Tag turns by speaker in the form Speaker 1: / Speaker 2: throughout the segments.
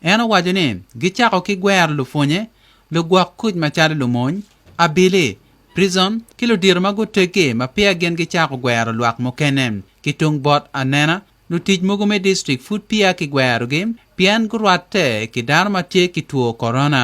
Speaker 1: En owaco ni, Gicako ki gwero lupwonye, lugwok kuc macalo lumony, abili, prison, ki ludito ma guteggi ma peya gin gicako gwero lwak mukene. Ki tung bot anena, lutic mogo me distrik pud peya kigwerogi pien gurwatte ki dano ma tye ki two korona.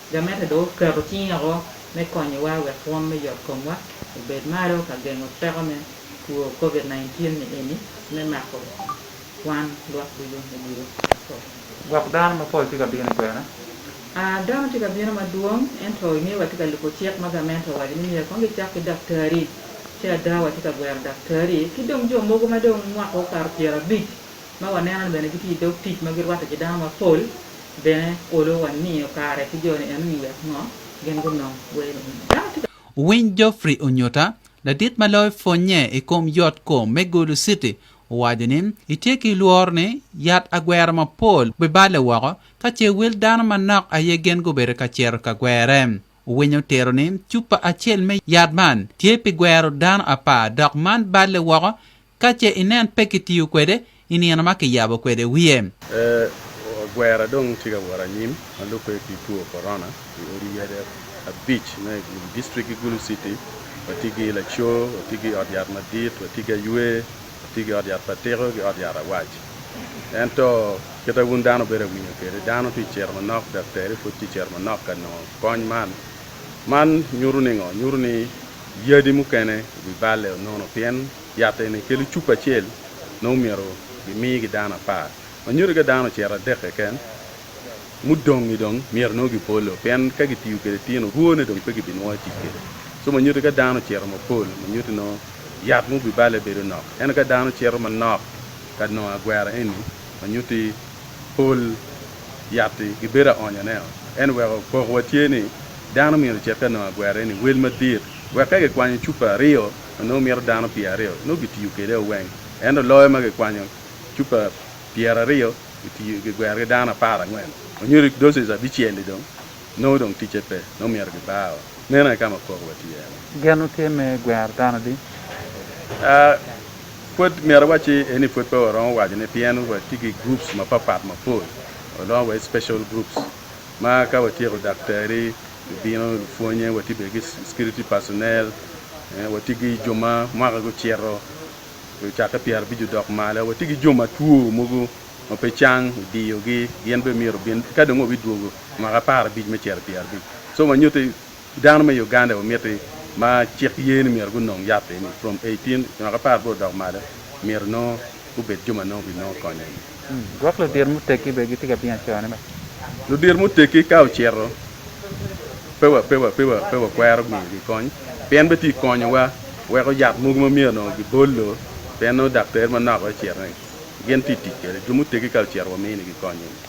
Speaker 2: Gamete dong oketo cinge woko me konyowa wek rwom me yotkomwa obed malo ka gengo teko me two Covid-19 ni eni me mako wan lwak ducu i odilo mapol. Gwok
Speaker 3: dano mapol tye ka bino i kwena. A Dano
Speaker 2: tye ka bino madwong, ento i nge watye ka lubo cik ma gamente owaco ni myero kong gicak ki daktari. Ci ada watye ka gwero daktari ki dong jo mogo ma dong mwaka okato pyerabic. Ma waneno-ni bene gitye i dog tic ma girwatte ki dano mapol, bene olo wa niyo kare ki jo-ni enoni wek ngo? Gin gunong wer enoni. Wuwiny
Speaker 1: Geoffrey Onyuta, ladit ma loyo pwonnye i kom yot kom me Gulu City, owaco ni, Itye ki lworo ni yat agwero mapol biballe woko ka ce wel dano manok aye gin gubedo ka cito ka gwere. Winyo tero ni cupa acel me yat man tye pi gwero dano apar dok man balle woko ka ce inen pe kitiyo kwede i nino ma kiyabo kwede wiye.
Speaker 4: Agwera dong tye ka wot anyim ma lubbe ki two Corona i odi yade abic me Gulu District ki Gulu City. Watye ki Lacoo, watye ki Ot Yat Madit, watye ki Aywe. Atye ki ot yat pa tiko ki ot yat awac. Ento, kite wun dano bedo awinyo kwede, dano tye cito manok daktari pud tye cito manok ka nongo kony man. Man nyuto ningo? Nyuto ni yadi mukene wi balle o nono pien yat eni kelo cupa acel nongo myero gimigi dano apar. Ma nyuto ni ka dano ocito adek keken, mudong-ngi dong myero nongo gipolo, pien ka gitiyo kwede tino rwone dong pe gibinwongo atic kwede. Co ma nyuto ka dano ocito mapol ma nyuto nongo yat ma obibale bedo nok, ento ka dano cito manok ka nongo agwera eni ma nyuto pol yat-ti gibedo aonyoneo. Ento weko pokowa tye ni dano myero ocit ka nongo agwera eni wel madit wek ka gikwanyo cupa aryo ma nongo mito dano pyer aryo nongo gitiyo kwede o weng, ento loyo ma gikwanyo cupa pyeraryo gitiyo gigwero ki dano apar angwen onyo doces abicel i dong nongo dong ticce pe nongo myero gibar o meno aye kama poko wa tye ene. Gen wu tye me
Speaker 3: gwero dano adi? Aa
Speaker 4: pwod myero awacci eni pwod pe waromo waco ne pien wa tye ki groups ma papat ma pol olongo wa i special groups ma ka wa tyeko daktari bino lupwonye wa tye bene ki security personnel wa tye ki jo ma mwaka gucito Lucakke pyera abic odok malo wa tye ki jo matwo mogo ma pe cang idiyogi gin bene myero obin eka dong wabidwogo mwaka apar abic me cito pyera abic so wa nyutti dano me Uganda wa miti ma cik ye ni myero gunong yat eni from eighteen mwaka apar bor odok malo myero nongo gubed jo ma nongo binongo konyo.
Speaker 3: Gwok ludito muteggi
Speaker 4: bene gitye ka bino acone bene. Ludito muteggi ka ocito, pe wakwero miyogi kony, pien betye ka konyowa weko yat mogo ma myero onongo gibolo pien nongo daktar manok aye ocito ni gin tye ka tic kwede. Jo muteggi ka ocito waminigi kony eni.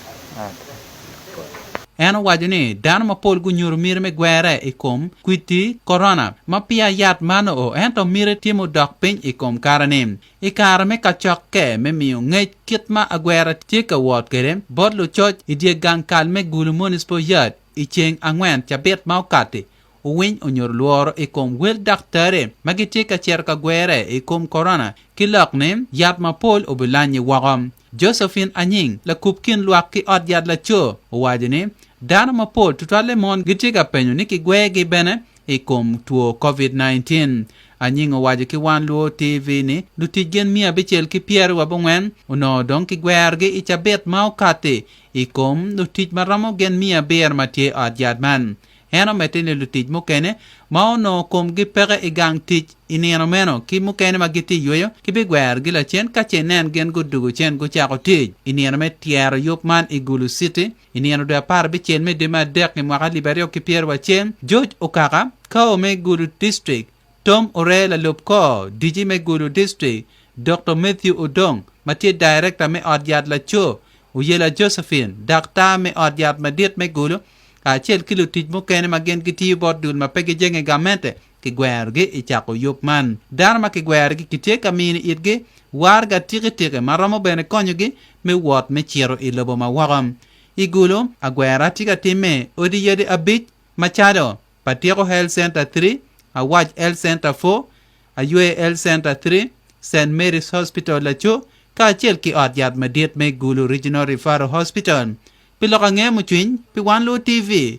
Speaker 1: En owaco ni dano mapol gunyuto miti me gwerre i kom kwidi Corona ma peya yat man oo ento miti tye ma odok piny i kom kare-ni. I kare me kacokke me miyo ngec kit ma agwera tye ka wot kwede bot lucoc i dye gang kal me Gulu Municipal Yard i ceng angwen cabit ma okatti, owiny onyuto lworo i kom wel daktari ma gitye ka cito ka gwere i kom Corona ki lok ni yat mapol obilanyi woko. Josephine Anying, lakub kin lwak ki ot yat laco, owaco ni, Dano mapol tutwalle mon gitye ka penyo ni kigwegi bene i kom two Covid-19. Anying owaco ki Wan Luo TV ni lutic gin miya abicel ki pyeri wa bongwen onongo dong ki gwerogi i cabit ma okati i kom lutic ma romo gin miya abiro ma tye i ot yat man. En omedde ni lutic mukene ma onongo komgi peke i gang tic i nino meno ki mukene ma gitye yweyo ki bi gwerogi lacen ka ce nen gin gudugo cen gucako tic i nino me tyero yub man i Gulu City I nino dwe apar abicel me dwe me adek i mwaka alip aryo ki pyerwa acel, George Okaka, Kao me Gulu District, Tom Oree lalub kor dici me Gulu District, Dokto Mathew Odong ma tye Daerekta me ot yat laco, Oyela Josephine, daktar me ot yat madit me Gulu, kacel ki lutic mukene ma gin gitiyo bot dul ma pe gijenge gamente, kigwerogi i cako yub man. Dano ma kigwerogi kitye ka mino itgi waraga tikitiki ma romo bene konyogi me wot me cito i lobo ma woko. I Gulu, agwera tye ka timme i odi yadi abic macalo, Patyeko Health Centre Three, Awac Health Centre Four, Ayweyo Health Centre Three, Saint Mary's Hospital Laco, kacel ki ot yat madit me Gulu Regional Referral Hospital. Pi lok ange mucwiny pi Wan Luwo TV,